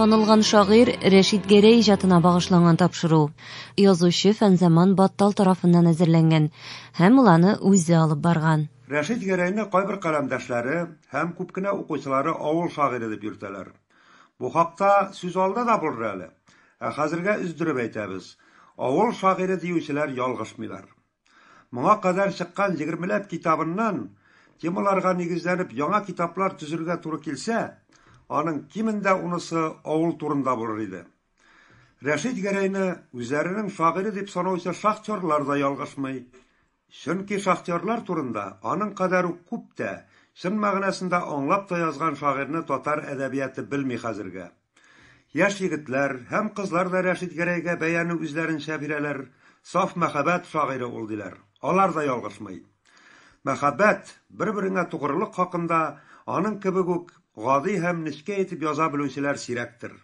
Танылган шагыйрь Рәшит Гәрәй иҗатына багышланган тапшыру язучы Фәнзаман Баттал тарафыннан әзерләнгән һәм ул аны үзе алып барган. Рәшит Гәрәйне кайбер каләмдәшләре һәм күп кенә укучылары авыл шагыйре дип йөртәләр. Бу хакта сүз алда да булыр әле. Ә хәзергә өздереп әйтәбез, авыл шагыйре диючеләр ялгышмыйлар. Моңа кадәр чыккан егермеләп китабыннан темаларга нигезләнеп яңа китаплар төзергә туры килсә, аның кимендә унысы авыл турында булыр иде. Рәшит Гәрәйне үзләренең шагыйре дип санаучы шахтерлар да ялгышмый. Чөнки шахтерлар турында аның кадәр үк күп тә, чын мәгънәсендә аңлап та язган шагыйрьне татар әдәбияты белми хәзергә. Яшь егетләр һәм кызлар да Рәшит Гәрәйгә бәяне үзләренчә бирәләр, саф мәхәббәт шагыйре ул, диләр. Алар да ялгышмый. Мәхәббәт, бер-береңә тугрылык хакында аның кебек үк гади һәм нечкә итеп яза белүчеләр сирәктер.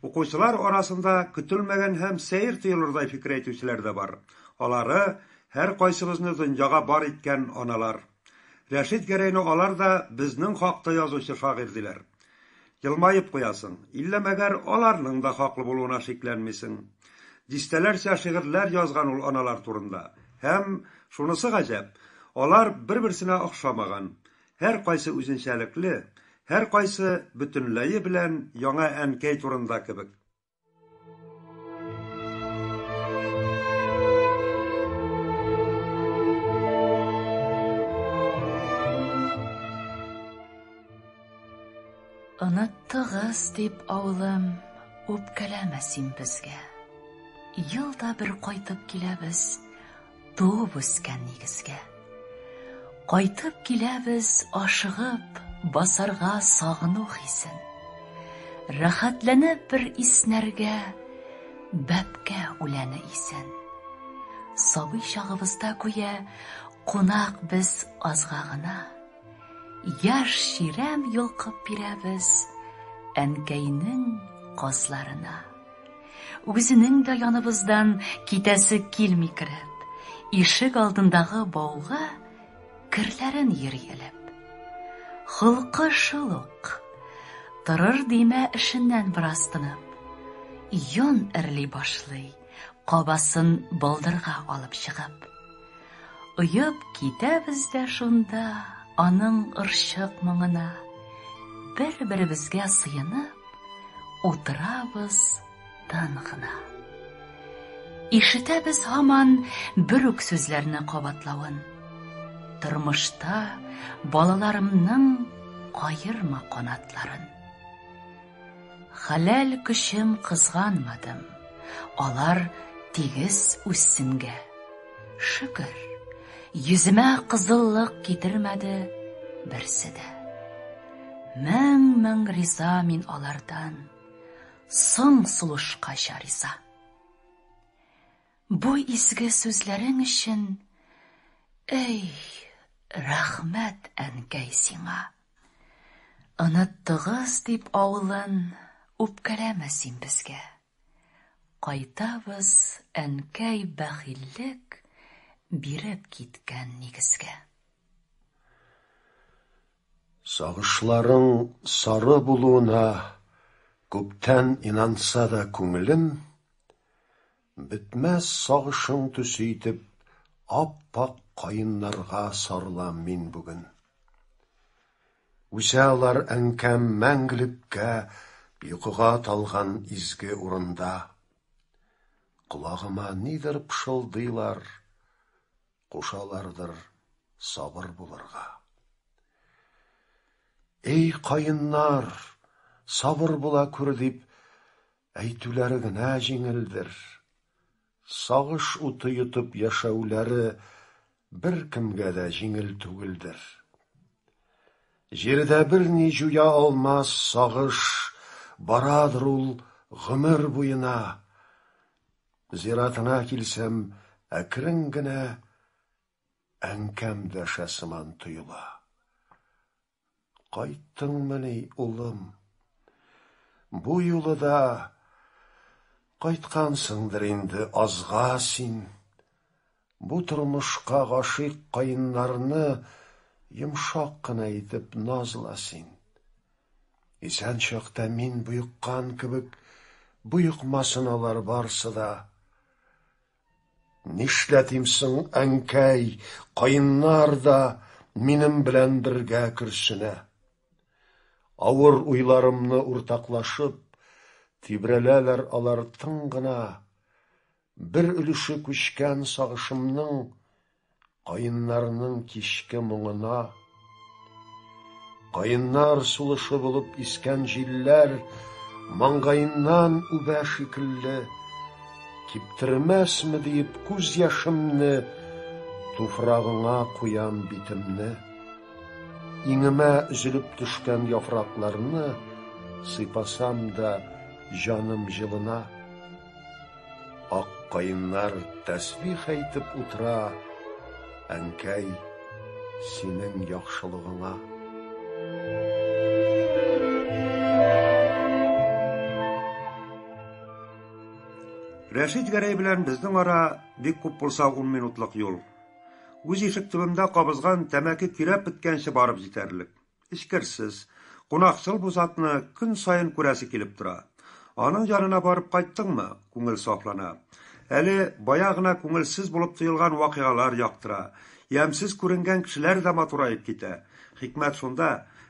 Укучылар арасында көтелмәгән һәм сәер тоелырдай фикер әйтүчеләр дә бар. Алары, һәркайсыбызны дөньяга бар иткән аналар. Рәшит Гәрәйне алар да безнең хакта язучы шагыйрь диләр. Елмаеп куясың. Иллә мәгәр аларның да хаклы булуына шикләнмисең. Дистәләрчә шигырьләр язган ул аналар турында. Һәм, шунысы гаҗәп, алар бер-берсенә охшамаган. Һәркайсы үзенчәлекле, һәркайсы бөтенләе белән яңа әнкәй турында кебек. Оныттыгыз дип авылым, үпкәләмә син безгә. Ел да бер кайтып киләбез, Туып үскән нигезгә. Кайтып киләбез ашыгып, басарга сагыну хисен. Рәхәтләнеп бер иснәргә бәпкә үләне исен. Сабый чагыбызда күя, кунак без азга гына. Яш чирәм йолкып бирәбез әнкәйнең казларына. Үзенең дә яныбыздан китәсе килми кереп, ишек алдындагы бауга керләрен йөргәләп. Холкы шул ук. Торыр димә эшеннән бераз тынып. Йон эрли башлый, кабасын болдырга алып чыгып. Оеп китәбез дә шунда аның ырчык моңына. Бер-беребезгә сыенып, утырабыз тын гына. Ишетәбез һаман бер үк сүзләрне кабатлавын. Тормышта балаларымның каерма канатларын. Хәләл көчем кызганмадым, алар тигез үссенгә. Шөкер, йөземә кызыллык китермәде берсе дә. Мең-мең риза мин алардан, соң сулышкача риза. Бу изге сүзләрең өчен, эй, рәхмәт, әнкәй, сиңа! Оныттыгыз дип авылын Үпкәләмә син безгә. Кайтабыз, әнкәй, бәхиллек Биреп киткән нигезгә. Сагышларың сары булуына Күптән инанса да күңелем, Бетмәс сагышың төсе итеп, Ап-ак каеннарга сарылам мин бүген. Үсә алар, әнкәм, мәңгелеккә Йокыга талган изге урында. Колагыма нидер пшылдыйлар, Кушалардыр сабыр булырга. Эй, каеннар, сабыр була күр, дип, Әйтүләре генә җиңелдер. Сагыш уты йотып яшәүләре беркемгә дә җиңел түгелдер. Җирдә берни җуя алмас сагыш барадыр ул гомер буена. Зиратына килсәм, әкрен генә әнкәм дәшә сыман тоела. Кайттыңмыни, улым? Бу юлы да кайткансыңдыр инде азга син. Бу тормышка гашыйк каеннарны йомшак кына итеп назла син. Исән чакта мин боеккан кебек боекмасын алар барсы да. Нишләтим соң, әнкәй, каеннар да минем белән бергә көрсенә. Авыр уйларымны уртаклашып, тибрәләләр алар тын гына, бер өлеше күчкән сагышымның Каеннарның кичке моңына Каеннар сулышы булып искән җилләр Маңгаеннан үбә шикелле Киптермәсме диеп күз яшемне Туфрагыңа куям битемне Иңемә өзелеп төшкән яфракларны Сыйпасам да җаным җылына Ак каеннар тәсбих әйтеп утыра, әнкәй, синең яхшылыгыңа. Рәшит Гәрәй белән безнең ара бик күп булса 10 минутлык юл. Үз ишек төбемдә кабызган тәмәке көйрәп беткәнче барып җитәрлек. Эчкерсез, кунакчыл бу затны көн саен күрәсе килеп тора. Аның янына барып кайттыңмы, күңел сафлана. Әле бая гына күңелсез булып тоелган вакыйгалар яктыра, ямьсез күренгән кешеләр дә матураеп китә. Хикмәт шунда,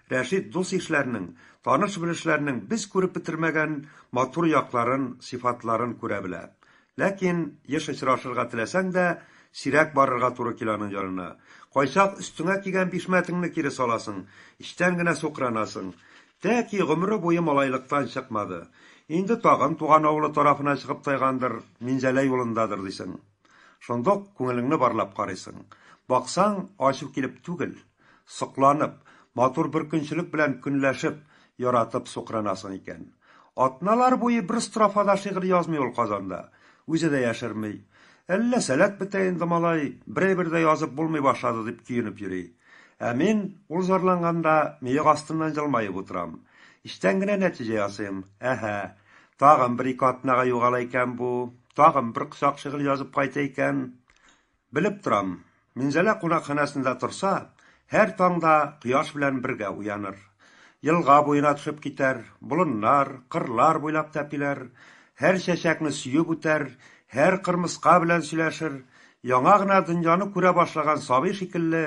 Рәшит дус-ишләрнең, таныш-белешләрнең без күреп бетермәгән матур якларын, сыйфатларын күрә белә. Ләкин, еш очрашырга теләсәң дә, сирәк барырга туры килә аның янына. Кайчак өстеңә кигән бишмәтеңне кире саласың, эчтән генә сукранасың. Тәки, гомере буе малайлыктан чыкмады. Инде тагын туган авылы тарафына чыгып тайгандыр, Минзәлә юлындадыр дисең. Шундук күңелеңне барлап карыйсың. Баксаң, ачу килеп түгел. сокланып, матур бер көнчелек белән көнләшеп, яратып сукранасың икән. Атналар буе бер строфа да шигырь язмый ул Казанда. Үзе дә яшерми. Әллә сәләт бетә инде, малай, бер әйбер дә язып булмый башлады, дип көенеп йөри. Ә мин, ул зарланганда, мыек астыннан җылмаеп утырам. Эчтән генә нәтиҗә ясыйм. Әһә, тагын бер-ике атнага югала икән бу, тагын бер кочак шигырь язып кайта икән. Белеп торам, Минзәлә кунакханәсендә торса, һәр таңда кояш белән бергә уяныр. Елга буена төшеп китәр, болыннар, кырлар буйлап тәпиләр, һәр чәчәкне сөеп үтәр, һәр кырмыска белән сөйләшер, яңа гына дөньяны күрә башлаган сабый шикелле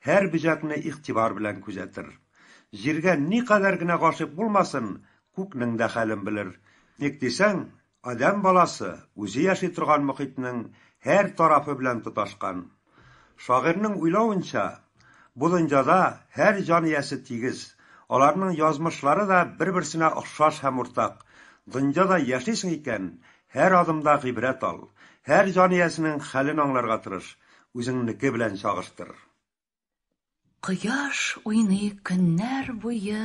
һәр бөҗәкне игътибар белән күзәтер. Җиргә никадәр генә гашыйк булмасын, күкнең дә хәлен белер. Ник дисәң, Адәм баласы үзе яши торган мохитнең һәр тарафы белән тоташкан. Шагыйрьнең уйлавынча, бу дөньяда һәр җан иясе тигез, аларның язмышлары да бер-берсенә охшаш һәм уртак. Дөньяда яшисең икән, һәр адымда гыйбрәт ал, һәр җан иясенең хәлен аңларга тырыш, үзеңнеке белән чагыштыр. Кояш уйный көннәр буе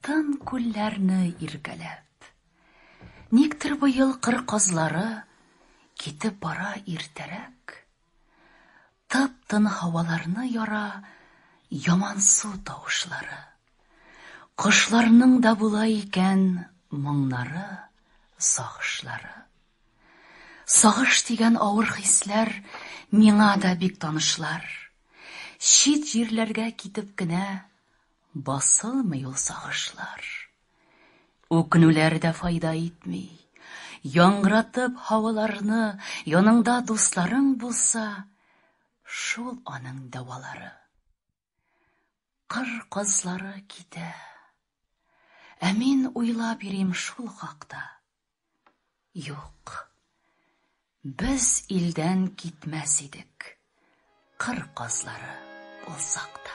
тын күлләрне иркәләп. Никтер быел кыр казлары китеп бара иртәрәк. Тып-тын һаваларны яра ямансу тавышлары. Кошларның да була икән моңнары, сагышлары. Сагыш дигән авыр хисләр миңа да бик танышлар. Чит җирләргә китеп кенә басылмый ул сагышлар. Үкенүләр дә файда итми. Яңгыратып һаваларны, яныңда дусларың булса, шул аның дәвалары. Кыр кызлары китә. Ә мин уйлап йөрим шул хакта. Юк. Без илдән китмәс идек. Кыр кызлары булсак та.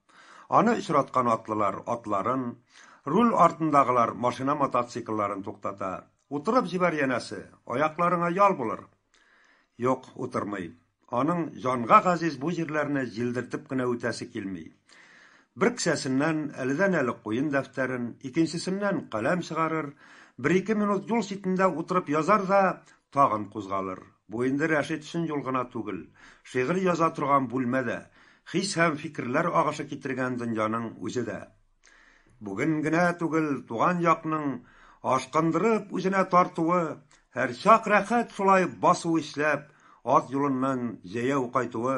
Аны очраткан атлылар атларын, руль артындагылар машина-мотоциклларын туктата. Утырып җибәр, янәсе, аякларыңа ял булыр! Юк, утырмый. Аның җанга газиз бу җирләрне җилдертеп кенә үтәсе килми. Бер кесәсеннән әледән-әле куен дәфтәрен, икенчесеннән каләм чыгарыр, бер-ике минут юл читендә утырып язар да тагын кузгалыр. Бу инде Рәшит өчен юл гына түгел, шигырь яза торган бүлмә дә, хис һәм фикерләр агышы китергән дөньяның үзе дә. Бүген генә түгел, туган якның ашкындырып үзенә тартуы, һәрчак рәхәт шулай басу эчләп, ат юлыннан җәяү кайтуы,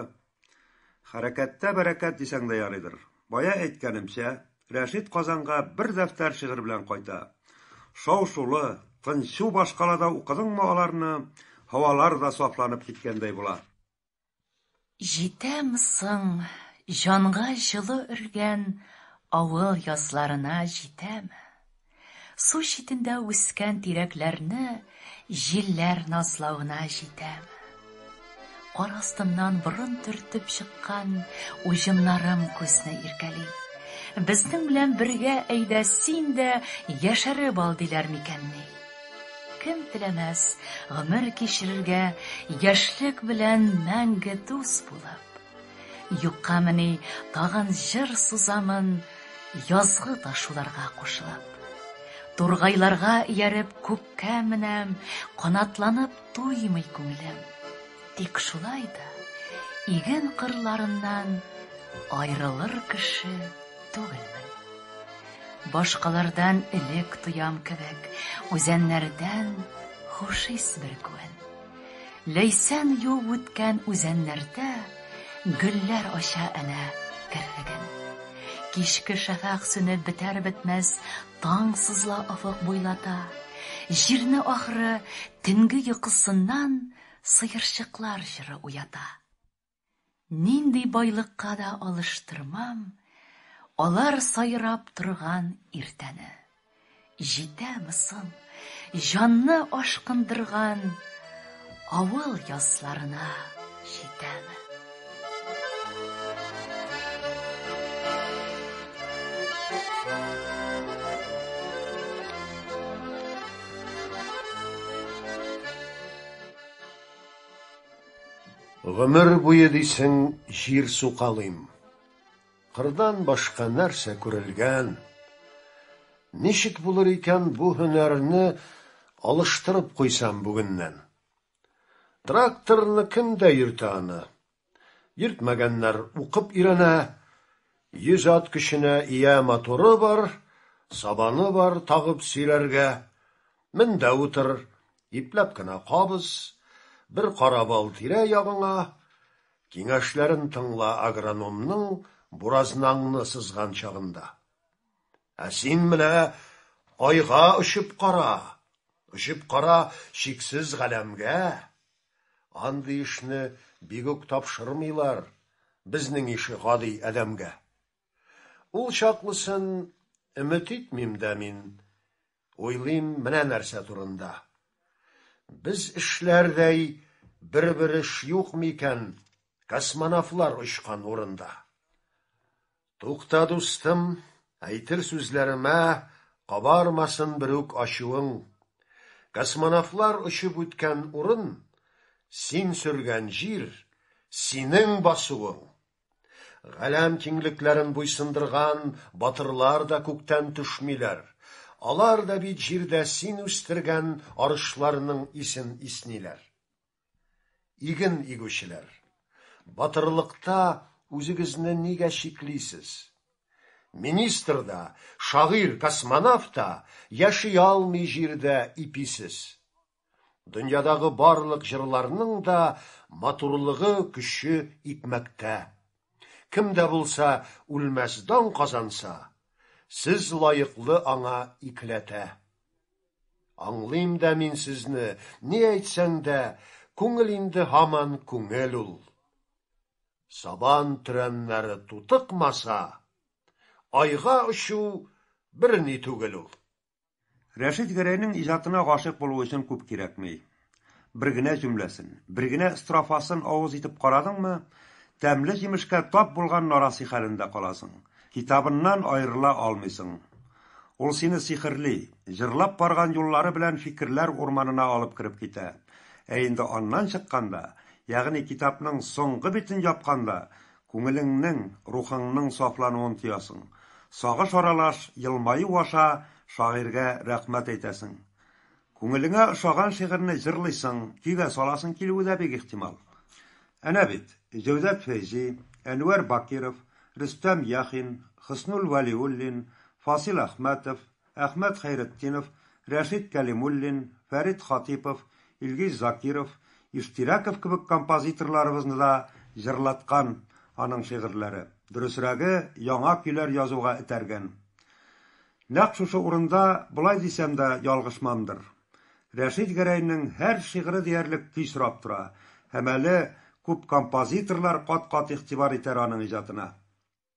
Хәрәкәттә бәрәкәт дисәң дә ярыйдыр. Бая әйткәнемчә, Рәшит Казанга бер дәфтәр шигырь белән кайта. Шау-шулы, тынчу башкалада укыдыңмы аларны, һавалар да сафланып киткәндәй була. Җитәм соң, җанга җылы өргән авыл язларына җитәме? Су читендә үскән тирәкләрне җилләр назлавына җитәм. Кар астыннан борын төртеп чыккан уҗымнарым күзне иркәли. Безнең белән бергә әйдә син дә яшәреп ал диләр микәнни? кем теләмәс гомер кичерергә яшьлек белән мәңге дус булып Юкка мени тагын җыр сузамын язгы ташуларга кушылып. Тургайларга ияреп күккә менәм, канатланып туймый күңелем. Тик шулай да иген кырларыннан аерылыр кеше түгелмен. Башкалардан элек тоям кебек, үзәннәрдән хушис бер күен. Ләйсән юып үткән үзәннәрдә гөлләр ача әнә керфеген. Кичке шәфәкъ сүнеп бетәр-бетмәс, таң сызла офык буйлата. Җирне ахры төнге йокысыннан сыерчыклар җыры уята. Нинди байлыкка да алыштырмам Алар сайрап торган иртәне. Җитәме соң җанны ашкындырган Авыл язларына җитәме? Гомер буе дисең җир сукалыйм. Кырдан башка нәрсә күрелгән? Ничек булыр икән бу һөнәрне алыштырып куйсам бүгеннән? Тракторны кем дә йөртә аны? Йөртмәгәннәр укып өйрәнә. Йөз ат көченә ия моторы бар, сабаны бар, тагып сөйләргә. Мен дә утыр, ипләп кенә кабыз, бер карап ал тирә-ягыңа, киңәшләрен тыңла агрономның буразнаңны сызган чагында. Ә син менә айга очып кара, очып кара чиксез галәмгә. Андый эшне бигүк тапшырмыйлар безнең ише гади адәмгә. Ул чаклысын өмет итмим дә мин. Уйлыйм менә нәрсә турында. Без эшләрдәй бер-бер эш юк микән космонавтлар очкан урында? Тукта, дустым, әйтер сүзләремә кабармасын берүк ачуың. Космонавтлар очып үткән урын, син сөргән җир, синең басуың. Галәм киңлекләрен буйсындырган батырлар да күктән төшмиләр. Алар да бит җирдә син үстергән арышларның исен исниләр. Иген игүчеләр, батырлыкта үзегезне нигә чиклисез? Министр да, шагыйрь, космонавт та яши алмый җирдә иписез. Дөньядагы барлык җырларның да матурлыгы, көче икмәктә. Кем дә булса үлмәс дан казанса, сез лаеклы аңа икеләтә. Аңлыйм да мин сезне, ни әйтсәң дә, күңел инде һаман күңел ул. Сабан төрәннәре тутыкмаса, айга очу берни түгел ул. Рәшит Гәрәйнең иҗатына гашыйк булу өчен күп кирәкми. Бер генә җөмләсен, бер генә строфасын авыз итеп карадыңмы, тәмле җимешкә тап булган нарасый хәлендә каласың, китабыннан аерыла алмыйсың. Ул сине сихерли, җырлап барган юллары белән фикерләр урманына алып кереп китә. Ә инде аннан чыкканда, ягъни китапның соңгы битен япканда, Күңелеңнең, рухыңның сафлануын тоясың. Сагыш аралаш елмаю аша шагыйрьгә рәхмәт әйтәсең. Күңелеңә ошаган шигырьне җырлыйсың, көйгә саласың килүе дә бик ихтимал. Әнә бит, Җәүдәт Фәйзи, Әнвәр Бакиров, Рөстәм Яхин, Хөснул Вәлиуллин, Фасил Әхмәтов, Әхмәт Хәйретдинов, Рәшит Кәлимуллин, Фәрит Хатипов, Илгиз Закиров, Иштирәков кебек композиторларыбызны да җырлаткан аның шигырьләре, дөресрәге, яңа көйләр язуга этәргән. Нәкъ шушы урында болай дисәм дә ялгышмамдыр, Рәшит Гәрәйнең һәр шигыре диярлек көй сорап тора һәм әле күп композиторлар кат-кат игътибар итәр аның иҗатына.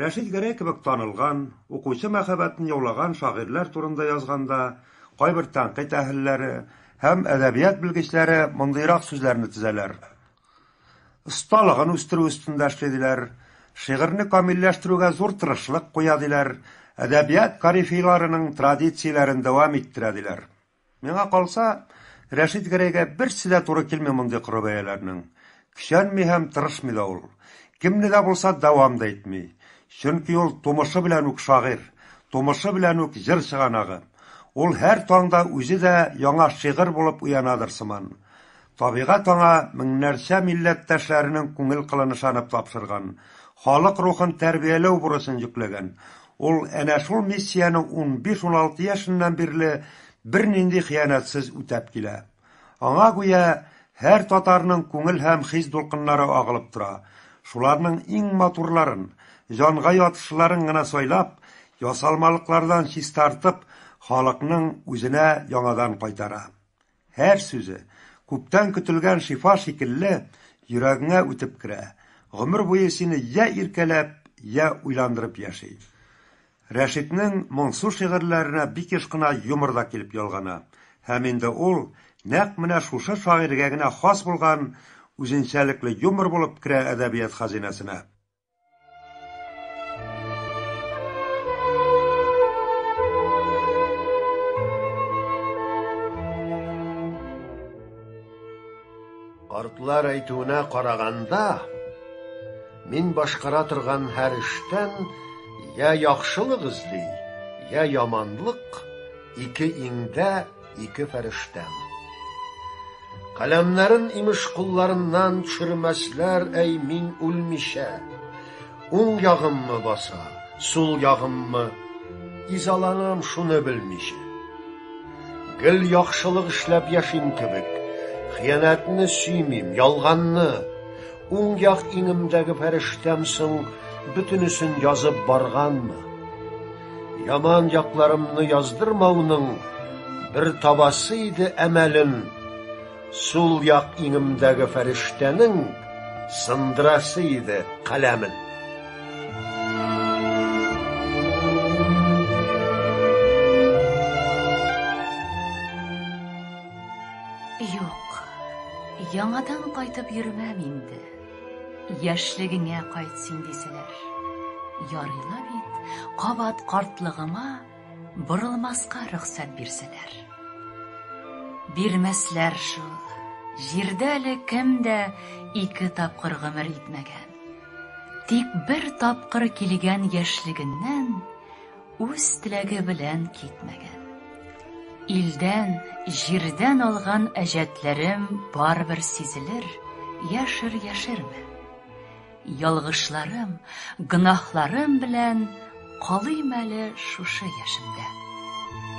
Рәшит Гәрәй кебек танылган, укучы мәхәббәтен яулаган шагыйрьләр турында язганда, кайбер тәнкыйть әһелләре һәм әдәбият белгечләре мондыйрак сүзләрне тезәләр, Осталыгын үстерү өстендә эшли, диләр, шигырьне камилләштерүгә зур тырышлык куя, диләр, әдәбият корифейларының традицияләрен дәвам иттерә, диләр. Миңа калса, Рәшит Гәрәйгә берсе дә туры килми мондый коры бәяләрнең. Көчәнми һәм тырышмый да ул. Кемне дә булса дәвам да итми. Чөнки ул тумышы белән үк шагыйрь, тумышы белән үк җыр чыганагы. Ул һәр таңда үзе дә яңа шигырь булып уянадыр сыман. Табигать аңа меңнәрчә милләттәшләренең күңел кылын ышанып тапшырган, халык рухын тәрбияләү бурычын йөкләгән. Ул әнә шул миссияне унбиш-уналты яшеннән бирле бернинди хыянәтсез үтәп килә. Аңа гүя һәр татарның күңел һәм хис дулкыннары агылып тора. Шуларның иң матурларын, җанга ятышлыларын гына сайлап, ясалмалыклардан чистартып, халыкның үзенә яңадан кайтара. Һәр сүзе, күптән көтелгән шифа шикелле, йөрәгеңә үтеп керә, гомер буе сине йә иркәләп, йә уйландырып яши. Рәшитнең моңсу шигырьләренә бик еш кына юмор да килеп ялгана, һәм инде ул нәкъ менә шушы шагыйрьгә генә хас булган үзенчәлекле юмор булып керә әдәбият хазинәсенә. Картлар әйтүенә караганда, мин башкара торган һәр эштән я яхшылык эзли, я яманлык, ике иңдә ике фәрештәм. Каләмнәрен имеш кулларыннан төшермәсләр, әй мин үлмичә. Уң ягыммы баса, сул ягыммы, изаланам шуны белмичә. Гел яхшылык эшләп яшим кебек, хыянәтне сөймим, ялганны, Уң як иңемдәге фәрештәм соң бөтенесен язып барганмы? Яман якларымны яздырмауның бер табасы иде әмәлем. Сул як иңемдәге фәрештәнең сындырасы иде каләмен. Юк, яңадан кайтып йөрмәм инде. Яшьлегеңә кайт син дисәләр. Ярый ла бит, кабат картлыгыма борылмаска рөхсәт бирсәләр. Бирмәсләр шул. Җирдә әле кем дә ике тапкыр гомер итмәгән. Тик бер тапкыр килгән яшьлегеннән Үз теләге белән китмәгән. Илдән, җирдән алган әҗәтләрем барыбер сизелер, яшер яшерме. Ялгышларым, гөнаһларым белән калыйм әле шушы яшемдә.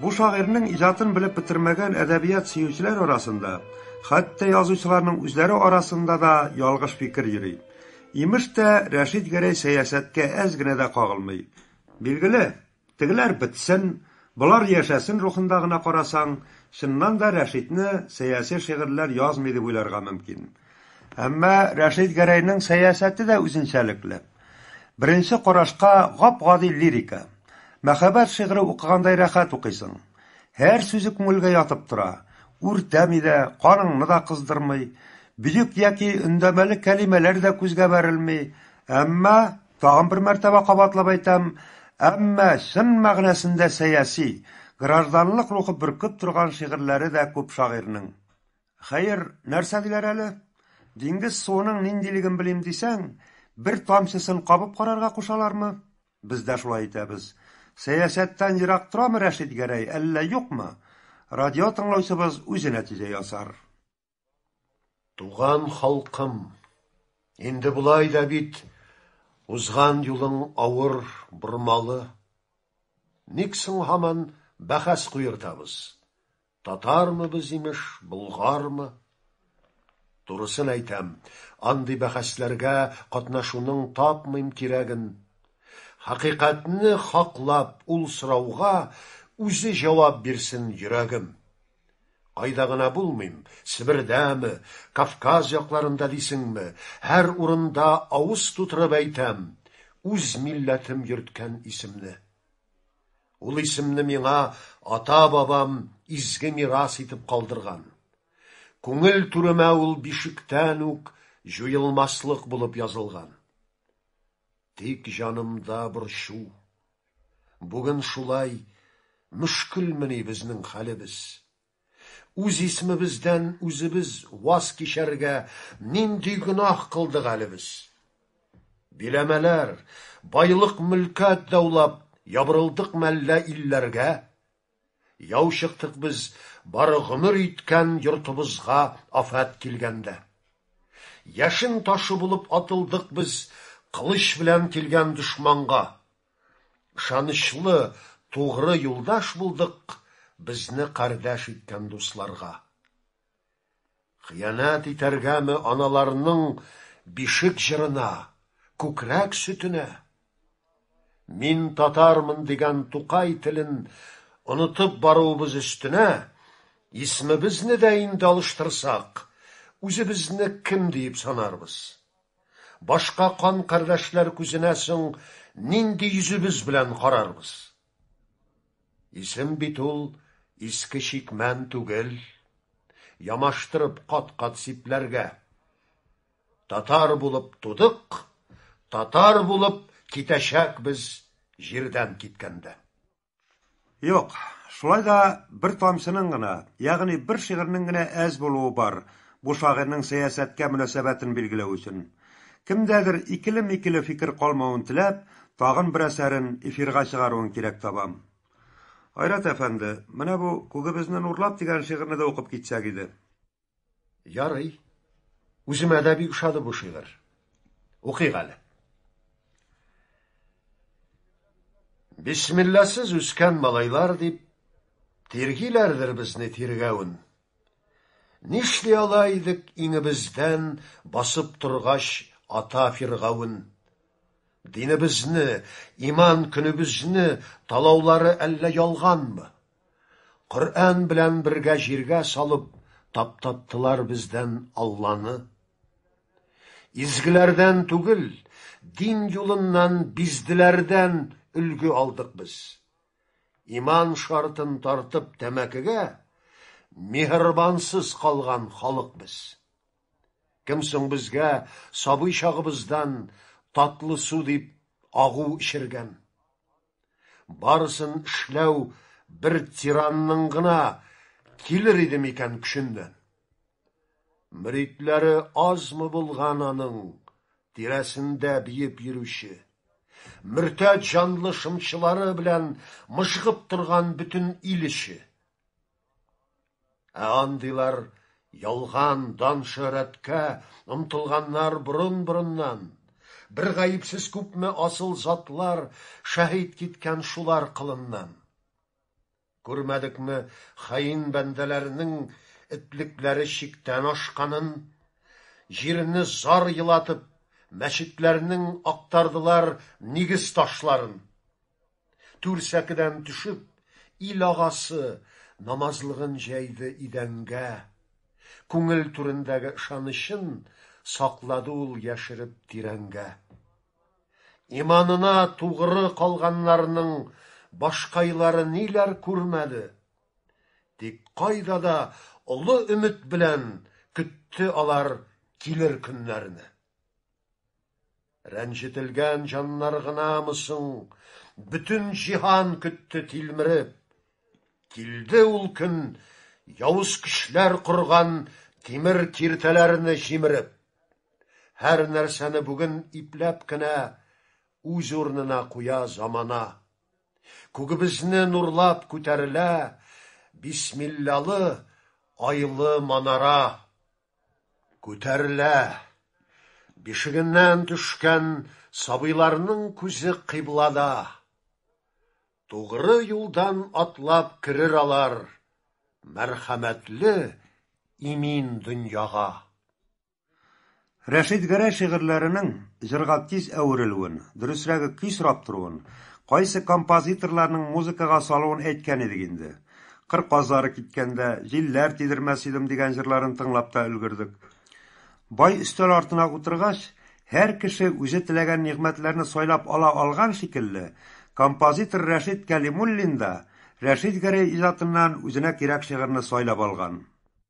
Бу шагыйрьнең иҗатын белеп бетермәгән әдәбият сөючеләр арасында, хәтта язучыларның үзләре арасында да ялгыш фикер йөри. Имеш тә, Рәшит Гәрәй сәясәткә әз генә дә кагылмый. Билгеле, тегеләр бетсен, болар яшәсен рухында гына карасаң, чыннан да Рәшитне сәяси шигырьләр язмый дип уйларга мөмкин. Әмма Рәшит Гәрәйнең сәясәте дә үзенчәлекле. Беренче карашка гап-гади лирика. Мәхәббәт шигыре укыгандай рәхәт укыйсың. Һәр сүзе күңелгә ятып тора, үртәми дә, каныңны да кыздырмый. Бөек яки өндәмәле кәлимәләр дә күзгә бәрелми. Әмма, тагын бер мәртәбә кабатлап әйтәм, әмма чын мәгънәсендә сәяси, гражданлык рухы бөркеп торган шигырьләре дә күп шагыйрьнең. Хәер, нәрсә диләр әле? Диңгез суының ниндилеген белим дисәң, бер тамчысын кабып карарга кушалармы? Без дә шулай итәбез. Сәясәттән ерак торамы Рәшит Гәрәй, әллә юкмы? Радио тыңлаучыбыз үзе нәтиҗә ясар. Туган халкым, инде болай да бит узган юлың авыр, бормалы. Ник соң һаман бәхәс куертабыз? Татармы без, имеш, болгармы? Турысын әйтәм, андый бәхәсләргә катнашуның тапмыйм кирәген. Хакыйкатьне хаклап, ул сорауга үзе җавап бирсен йөрәгем. Кайда гына булмыйм, Себердәме, Кавказ якларында дисеңме, һәр урында авыз тутырып әйтәм, үз милләтем йөрткән исемне. Ул исемне миңа ата-бабам изге мирас итеп калдырган. Күңел түремә ул бишектән үк җуелмаслык булып язылган. Тик җанымда борчу. Бүген шулай мөшкелмени безнең хәлебез? Үз исмебездән үзебез ваз кичәргә нинди гөнаһ кылдык әле без? Биләмәләр, байлык-мөлкәт даулап, ябырылдык мәллә илләргә? Яу чыктык без бары гомер иткән йортыбызга афәт килгәндә. Яшен ташы булып атылдык без кылыч белән килгән дошманга. Ышанычлы, тугры юлдаш булдык, безне кардәш иткән дусларга. Хыянәт итәргәме аналарның бишек җырына, күкрәк сөтенә? Мин татармын дигән тукай телен онытып баруыбыз өстенә, исмебезне дә инде алыштырсак, үзебезне кем диеп санарбыз? Башка кан кардәшләр күзенә соң нинди йөзебез белән карарбыз? Исем бит ул иске чикмән түгел. Ямаштырып кат-кат сипләргә. Татар булып тудык, татар булып китәчәкбез җирдән киткәндә. Юк, шулай да бер тамчының гына, ягъни бер шигырьнең генә әз булуы бар бу шагыйрьнең сәясәткә мөнәсәбәтен билгеләү өчен. Кемдәдер икеле-микеле фикер калмавын теләп, тагын бер әсәрен эфирга чыгаруын кирәк табам. Айрат әфәнде, менә бу Күгебезне нурлап дигән шигырьне дә укып китсәк иде. Ярый. Үземә дә бик ошады бу шигырь. Укыйк әле. Бисмилласыз үскән малайлар дип тиргиләрдер безне тиргәвен. Нишли ала идек иңебездән басып торгач ата фиргавен. Динебезне, иман көнебезне талаулары әллә ялганмы? Коръән белән бергә җиргә салып таптаттылар бездән Алланы. Изгеләрдән түгел, дин юлыннан биздиләрдән өлге алдык без. Иман шартын тартып тәмәкегә миһербансыз калган халык без. Кем соң безгә сабый чагыбыздан татлы су дип агу эчергән? Барысын эшләү бер тиранның гына килер иде микән көченнән? Мөритләре азмы булган аның, тирәсендә биеп йөрүче, мөртәт җанлы шымчылары белән мыжгып торган бөтен ил эче. Ә андыйлар ялган дан шөһрәткә омтылганнар борын-борыннан. Бер гаепсез күпме асыл затлар шәһит киткән шулар кылыннан. Күрмәдекме хаин бәндәләрнең этлекләре чиктән ашканын? Җирне зар елатып, мәчетләрнең актардылар нигез ташларын. Түр сәкедән төшеп, ил агасы намазлыгын җәйде идәнгә. Күңел түрендәге ышанычын саклады ул яшереп тирәнгә. Иманына тугры калганнарның башкайлары ниләр күрмәде. Тик кайда да олы өмет белән көтте алар килер көннәрне. Рәнҗетелгән җаннар гынамы соң? Бөтен җиһан көтте тилмереп. Килде ул көн, явыз көчләр корган тимер киртәләрне җимереп. Һәр нәрсәне бүген ипләп кенә үз урынына куя замана. Күгебезне нурлап күтәрелә бисмиллалы айлы манара. Күтәрелә! Бишегеннән төшкән сабыйларның күзе кыйблада. Тугры юлдан атлап керер алар мәрхәмәтле имин дөньяга. Рәшит Гәрәй шигырьләренең җырга тиз әверелүен, дөресрәге көй сорап торуын, кайсы композиторларның музыкага салуын әйткән идек инде. Кыр казлары киткәндә, Җилләр тидермәс идем дигән җырларын тыңлап та өлгердек. Бай өстәл артына утыргач, һәр кеше үзе теләгән нигъмәтләрне сайлап ала алган шикелле, композитор Рәшит Кәлимуллин да Рәшит Гәрәй иҗатыннан үзенә кирәк шигырьне сайлап алган.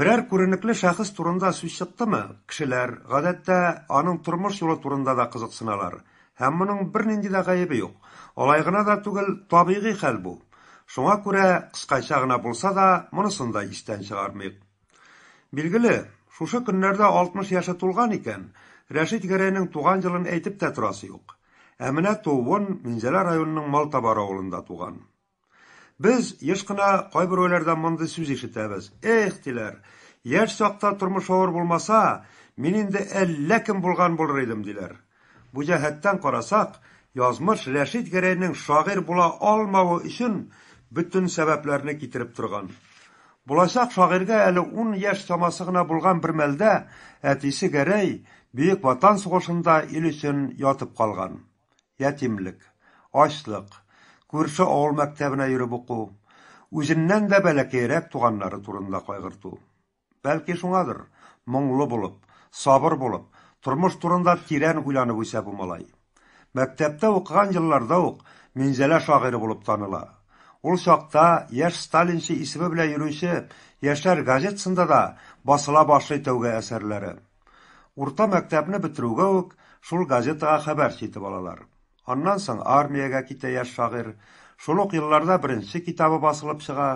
Берәр күренекле шәхес турында сүз чыктымы, кешеләр, гадәттә, аның тормыш юлы турында да кызыксыналар. Һәм моның бернинди дә гаебе юк. Алай гына да түгел, табигый хәл бу. Шуңа күрә, кыскача гына булса да, монысын да истән чыгармыйк. Билгеле, шушы көннәрдә 60 яше тулган икән, Рәшит Гәрәйнең туган елын әйтеп тә торасы юк. Ә менә тууын Минзәлә районының Малтабар авылында туган. Без еш кына кайберүләрдән мондый сүз ишетәбез, Эх, диләр, яшь чакта тормыш авыр булмаса, мин инде әллә кем булган булыр идем, диләр. Бу җәһәттән карасак, язмыш Рәшит Гәрәйнең шагыйрь була алмавы өчен бөтен сәбәпләрне китереп торган. Булачак шагыйрьгә әле ун яшь чамасы гына булган бер мәлдә әтисе Гәрәй Бөек Ватан сугышында ил өчен ятып калган. ятимлек, ачлык, күрше авыл мәктәбенә йөреп уку, үзеннән дә бәләкәйрәк туганнары турында кайгырту. Бәлки шуңадыр, моңлы булып, сабыр булып, тормыш турында тирән уйланып үсә бу малай. Мәктәптә укыган елларда ук Минзәлә шагыйре булып таныла. Ул чакта Яшь сталинчы исеме белән йөрүче Яшьләр газетасында да басыла башлый тәүге әсәрләре. Урта мәктәпне бетерүгә үк шул газетага хәбәр читеп алалар. Аннан соң армиягә китә яшь шагыйрь. Шул ук елларда беренче китабы басылып чыга.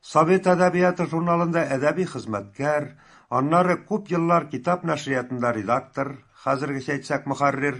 Совет әдәбияты журналында әдәби хезмәткәр, аннары күп еллар Китап нәшриятында редактор, хәзергечә әйтсәк, мөхәррир.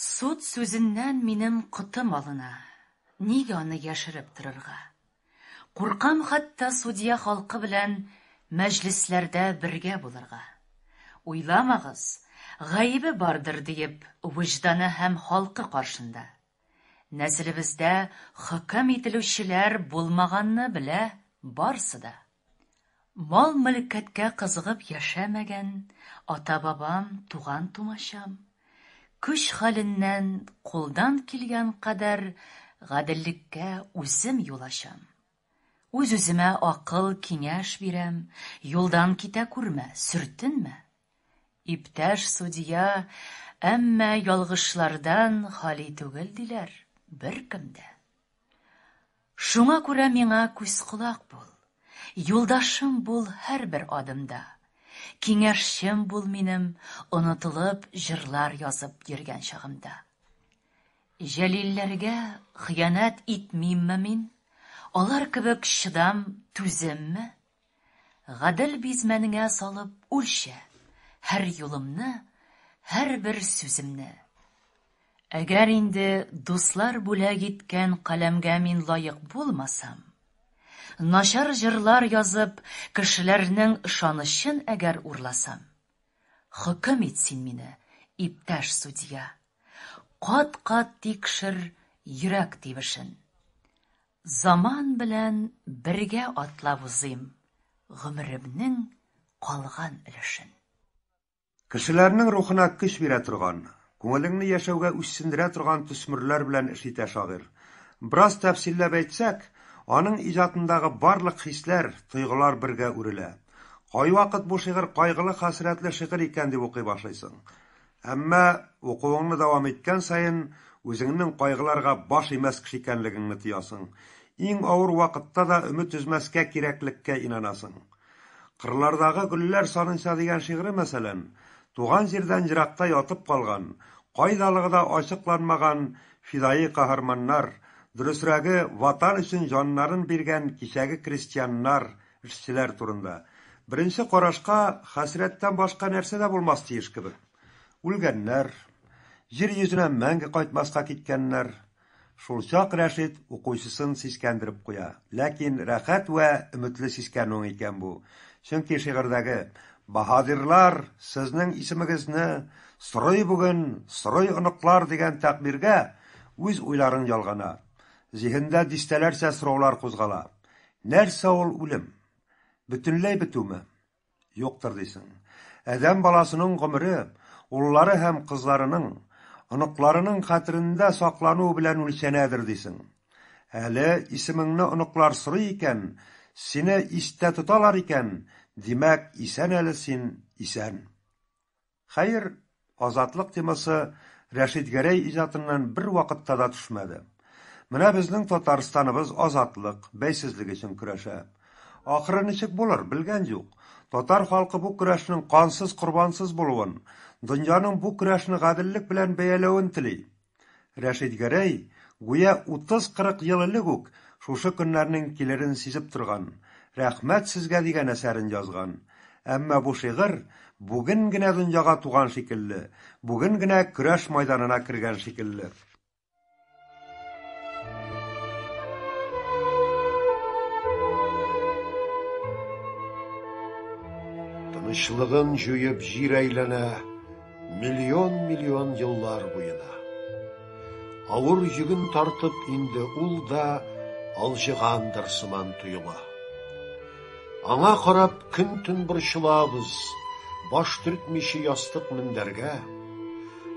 Суд сүзеннән минем котым алына, нигә аны яшереп торырга? Куркам хәтта судья халкы белән мәҗлесләрдә бергә булырга. Уйламагыз, гаебе бардыр диеп, вөҗданы һәм халкы каршында. Нәселебездә хөкем ителүчеләр булмаганны белә барсы да. Мал-мөлкәткә кызыгып яшәмәгән ата-бабам, туган-тумачам, көч-хәленнән кулдан килгән кадәр гаделлеккә үзем юл ачам. Үз-үземә акыл, киңәш бирәм, Юлдан китә күрмә, сөртенмә. Иптәш судья, әмма ялгышлардан Хали түгел, диләр, беркем дә. Шуңа күрә миңа күз-колак бул, Юлдашым бул һәрбер адымда, Киңәшчем бул минем, онытылып Җырлар язып йөргән чагымда. Җәлилләргә хыянәт итмимме мин? Алар кебек чыдам, түземме? Гадел бизмәнеңә салып үлчә Һәр юлымны, һәрбер сүземне. Әгәр инде дуслар бүләк иткән каләмгә мин лаек булмасам, Начар җырлар язып, кешеләрнең ышанычын әгәр урласам, Хөкем ит син мине, иптәш судья. Кат-кат тикшер йөрәк тибешен. Заман белән бергә атлап узыйм гомеремнең калган өлешен. Кешеләрнең рухына көч бирә торган. Күңелеңне яшәүгә үчсендерә торган төсмерләр белән эш итә шагыйрь. Бераз тәфсилләп әйтсәк, аның иҗатындагы барлык хисләр, тойгылар бергә үрелә. Кайвакыт бу шигырь кайгылы-хәсрәтле шигырь икән дип укый башлыйсың. Әмма укуыңны дәвам иткән саен, үзеңнең кайгыларга баш имәс кеше икәнлегеңне тоясың. Иң авыр вакытта да өмет өзмәскә кирәклеккә инанасың. Кырлардагы гөлләр саныйса дигән шигыре, мәсәлән, туган җирдән еракта ятып калган, кайдалыгы да ачыкланмаган фидаи каһарманнар, дөресрәге, Ватан өчен җаннарын биргән кичәге крестьяннар, эшчеләр турында. Беренче карашка, хәсрәттән башка нәрсә дә булмас тиеш кебек. Үлгәннәр, җир йөзенә мәңге кайтмаска киткәннәр, Шулчак Рәшит укучысын сискәндереп куя. Ләкин рәхәт вә өметле сискәнүең икән бу. Чөнки шигырьдәге, Баһадирлар, сезнең исемегезне Сорый бүген, сорый оныклар дигән тәгъбиргә үз уйларың ялгана. Зиһендә дистәләрчә сораулар кузгала. Нәрсә ул үлем? Бөтенләй бетүме? Юктыр дисең. Адәм баласының гомере уллары һәм кызларының, оныкларының хәтерендә саклану белән үлчәнәдер дисең. Әле исемеңне оныклар сорый икән, сине истә тоталар икән, димәк, исән әле син, исән. Хәер, азатлык темасы Рәшит Гәрәй иҗатыннан бер вакытта да төшмәде. Менә безнең Татарстаныбыз азатлык, бәйсезлек өчен көрәшә. Ахыры ничек булыр, белгән юк. Татар халкы бу көрәшнең кансыз-корбансыз булуын, дөньяның бу көрәшне гаделлек белән бәяләвен тели. Рәшит Гәрәй, гүя утыз-кырык ел элек үк шушы көннәрнең килерен сизеп торган, Рәхмәт сезгә дигән әсәрен язган. Әмма бу шигырь бүген генә дөньяга туган шикелле, бүген генә көрәш майданына кергән шикелле. Тынычлыгын җуеп җир әйләнә. Миллион-миллион еллар буена. Авыр җиген тартып инде ул да алҗыгандыр сыман тоела. Аңа карап көн-төн борчылабыз, баш төртмичә ястык мендәргә.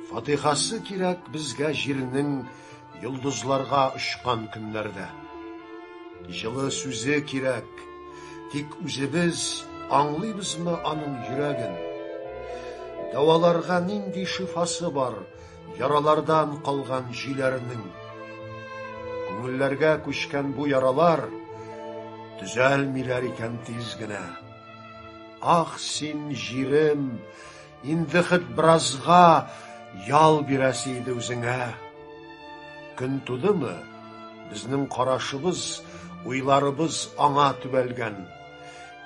Фатихасы кирәк безгә җирнең Йолдызларга очкан көннәрдә. Җылы сүзе кирәк, тик үзебез аңлыйбызмы аның йөрәген? Дәваларга нинди шифасы бар яралардан калган җиләрнең? Күңелләргә күчкән бу яралар төзәлмиләр икән тиз генә. Ах, син җирем, Инде хет беразга ял бирәсе иде үзеңә. Көн тудымы? Безнең карашыбыз, уйларыбыз аңа төбәлгән.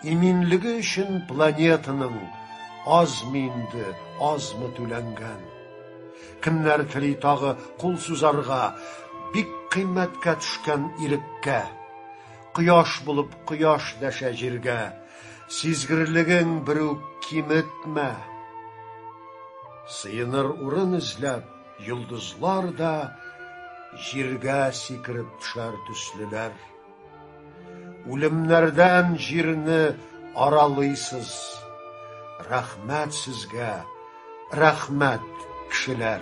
Иминлеге өчен планетаның азмы инде, азмы түләнгән. Кемнәр тели тагы кул сузарга, бик кыйммәткә төшкән иреккә. Кояш булып кояш дәшә җиргә. Сизгерлеген берүк киметмә. Сыеныр урын эзләп, йолдызлар да җиргә сикереп төшәр төслеләр. Үлемнәрдән җирне аралыйсыз. Рәхмәт сезгә, рәхмәт, кешеләр!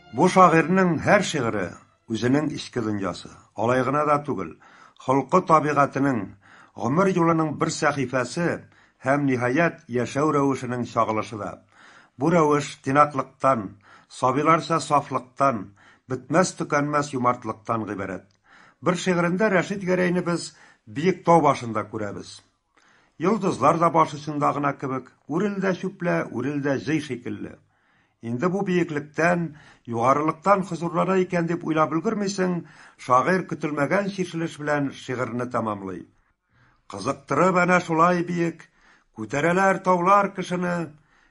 Бу шагыйрьнең һәр шигыре, үзенең эчке дөньясы. Алай гына да түгел, холкы-табигатенең, гомер юлының бер сәхифәсе һәм, ниһаять, яшәү рәвешенең чагылышы да. Бу рәвеш тыйнаклыктан, сабыйларча сафлыктан, бетмәс-төкәнмәс юмартлыктан гыйбарәт. Бер шигырендә Рәшит Гәрәйне без Биектау башында күрәбез. Йолдызлар да баш очында гына кебек, үрел дә чүплә, үрел дә җый шикелле. Инде бу биеклектән, югарылыктан хозурлана икән дип уйлап өлгермисең, шагыйрь көтелмәгән чишелеш белән шигырьне тәмамлый. Кызыктырып әнә шулай биек, Күтәрәләр таулар кешене,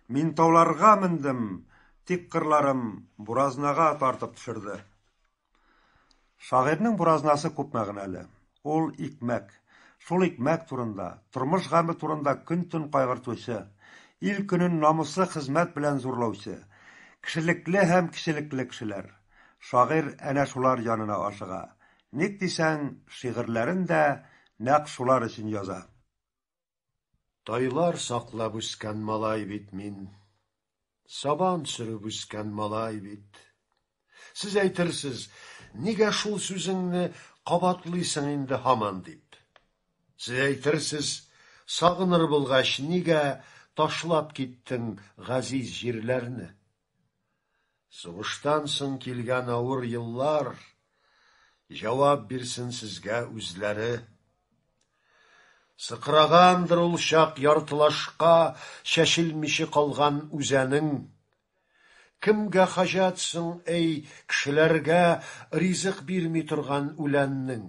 Мин тауларга мендем, Тик кырларым Буразнага тартып төшерде. Шагыйрьнең бу разнасы күп мәгънәле. Ул, икмәк. Шул икмәк турында, тормыш гаме турында көн-төн кайгыртучы, ил көнен намуслы хезмәт белән зурлаучы, кешелекле һәм кичелекле кешеләр. Шагыйрь әнә шулар янына ашыга. Ник дисәң, шигырьләрен дә нәкъ шулар өчен яза. Тайлар саклап үскән малай бит мин. Сабан сөреп үскән малай бит. Сез әйтерсез, нигә шул сүзеңне кабатлыйсың инде һаман дип. Сез әйтерсез, сагыныр булгач, нигә ташлап киттең газиз җирләрне? Сугыштан соң килгән авыр еллар җавап бирсен сезгә үзләре. Сыкрагандыр ул чак яртылашка чәчелмиче калган үзәнең. Кемгә хаҗәт соң, әй, кешеләргә ризык бирми торган үләннең?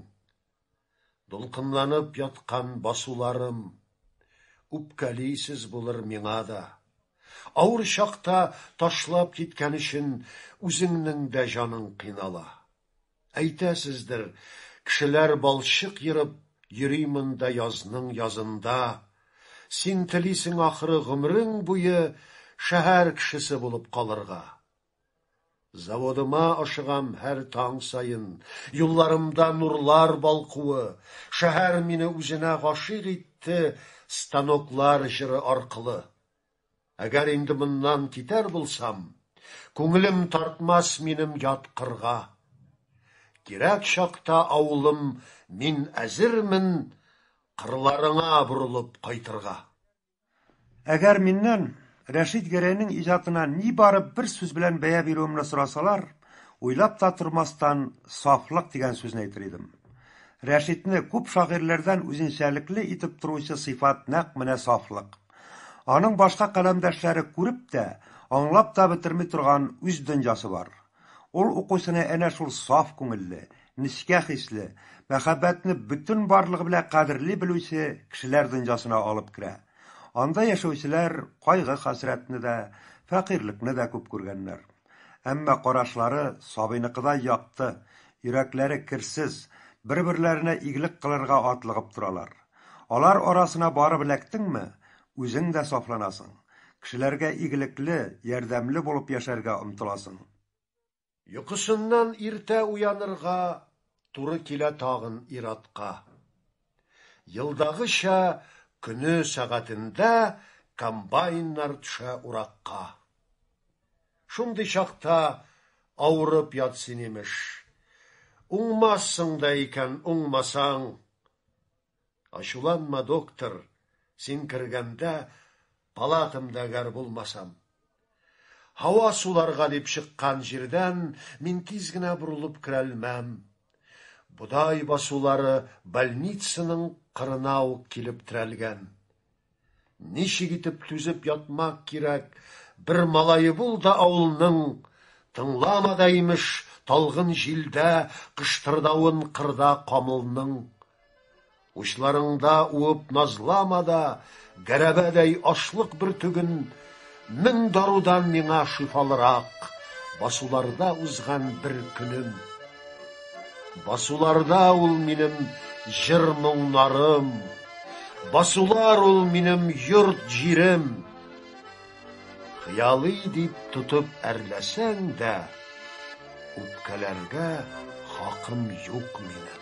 Дулкынланып яткан басуларым, Үпкәлисез булыр миңа да. Авыр чакта ташлап киткән өчен Үзеңнең дә җаның кыйнала. Әйтәсездер, кешеләр балчык ерып Йөри монда язның язында. Син телисең, ахры, гомерең буе Шәһәр кешесе булып калырга. Заводыма ашыгам һәр таң саен, Юлларымда нурлар балкуы, Шәһәр мине үзенә гашыйк итте Станоклар җыры аркылы. Әгәр инде моннан китәр булсам, Күңелем тартмас минем ят кырга. Кирәк чакта, авылым, мин әзермен Кырларыңа борылып кайтырга. Әгәр миннән Рәшит Гәрәйнең иҗатына нибары бер сүз белән бәя бирүемне сорасалар, уйлап та тормастан, сафлык дигән сүзне әйтер идем. Рәшитне күп шагыйрьләрдән үзенчәлекле итеп торучы сыйфат нәкъ менә сафлык. Аның башка каләмдәшләре күреп тә, аңлап та бетерми торган үз дөньясы бар. Ул укучыны әнә шул саф күңелле, нечкә хисле, мәхәббәтне бөтен барлыгы белән кадерли белүче кешеләр дөньясына алып керә. Анда яшәүчеләр кайгы-хәсрәтне дә, фәкыйрьлекне дә күп күргәннәр. Әмма карашлары сабыйныкыдай якты, йөрәкләре керсез, бер-берләренә игелек кылырга атлыгып торалар. Алар арасына барып эләктеңме, Үзең дә сафланасың. Кешеләргә игелекле, ярдәмле булып яшәргә омтыласың. Йокысыннан иртә уянырга туры килә тагын ир-атка. Елдагыча көне сәгатендә комбайннар төшә уракка. Шундый чакта авырып ят син, имеш. Уңмассың да икән, уңмасаң. Ачуланма, доктор, син кергәндә палатамда гәр булмасам. Һава суларга дип чыккан җирдән мин тиз генә борылып керәлмәм. Бодай басулары больницаның кырына ук килеп терәлгән. Ничек итеп түзеп ятмак кирәк, Бер малае бул да авылның, Тыңлама да, имеш, талгын җилдә Кыштырдавын кырда камылның. Учларыңда уып назлама да, Гәрәбәдәй ашлык бөртеген, Мең дарудан миңа шифалырак Басуларда узган бер көнем. Басуларда ул минем җыр-моңнарым, Басулар ул минем йорт-җирем. Хыялый дип тотып әрләсәң дә, Үпкәләргә хакым юк минем.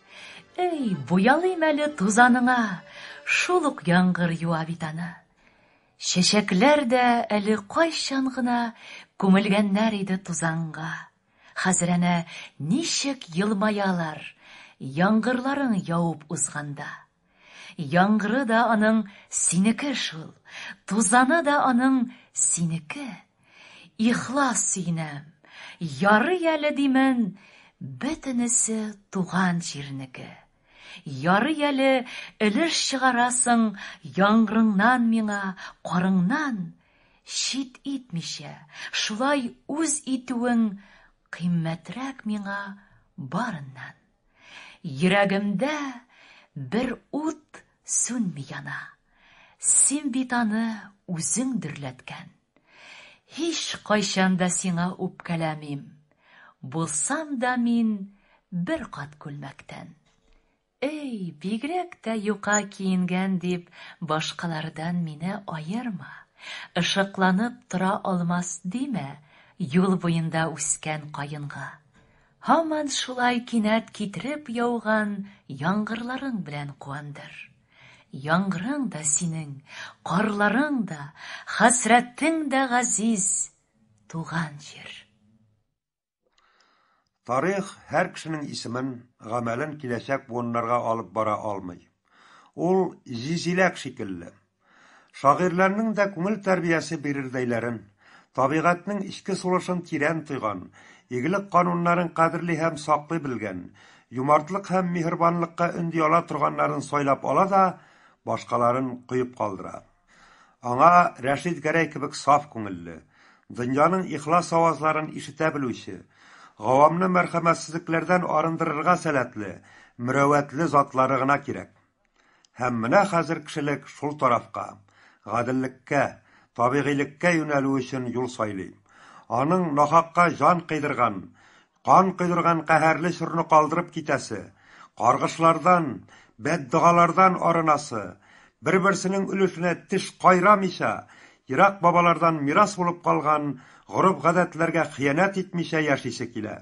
Әй, буялыйм әле тузаныңа, Шул ук яңгыр юа бит аны. Чәчәкләр дә әле кайчан гына Күмелгәннәр иде тузанга. Хәзер әнә ничек елмаялар, Яңгырларың явып узганда. Яңгыры да аның синеке шул, тузаны да аның синеке. Ихлас сөенәм, ярый әле димен, бөтенесе туган җирнеке. Ярый әле өлеш чыгарасың яңгырыңнан миңа, карыңнан, чит итмичә, шулай үз итүең кыйммәтрәк миңа барыннан. Йөрәгемдә бер ут сүнми яна, Син бит аны үзең дөрләткән. Һичкайчан да сиңа үпкәләмим, Булсам да мин бер кат күлмәктән. Эй, бигрәк тә юка киенгән дип Башкалардан мине аерма, Ышыкланып тора алмас димә Юл буенда үскән каенга. Һаман шулай кинәт китереп яуган яңгырларың белән куандыр. Яңгырың да синең, карларың да, хәсрәтең дә газиз туган җир. Тарих һәр кешенең исемен, гамәлен киләчәк буыннарга алып бара алмый. Ул Зизиләк шикелле, Шагыйрьләрнең дә күңел тәрбиясе бирердәйләрен, табигатьнең эчке сулышын тирән тойган, игелек кануннарын кадерли һәм саклый белгән, юмартлык һәм миһербанлыкка өнди ала торганнарын сайлап ала да, башкаларын коеп калдыра. Аңа Рәшит Гәрәй кебек саф күңелле, дөньяның ихлас авазларын ишетә белүче, гавамны мәрхәмәтсезлекләрдән арындырырга сәләтле, мөрәвәтле затлары гына кирәк. Һәм менә хәзер кешелек шул тарафка, гаделлеккә, табигыйлеккә юнәлү өчен юл сайлый. Аның нахакка җан кыйдырган, кан койдырган каһәрле чорны калдырып китәсе, каргышлардан, бәддогалардан арынасы, бер-берсенең өлешенә теш кайрамыйча, ерак бабалардан мирас булып калган гореф-гадәтләргә хыянәт итмичә яшисе килә.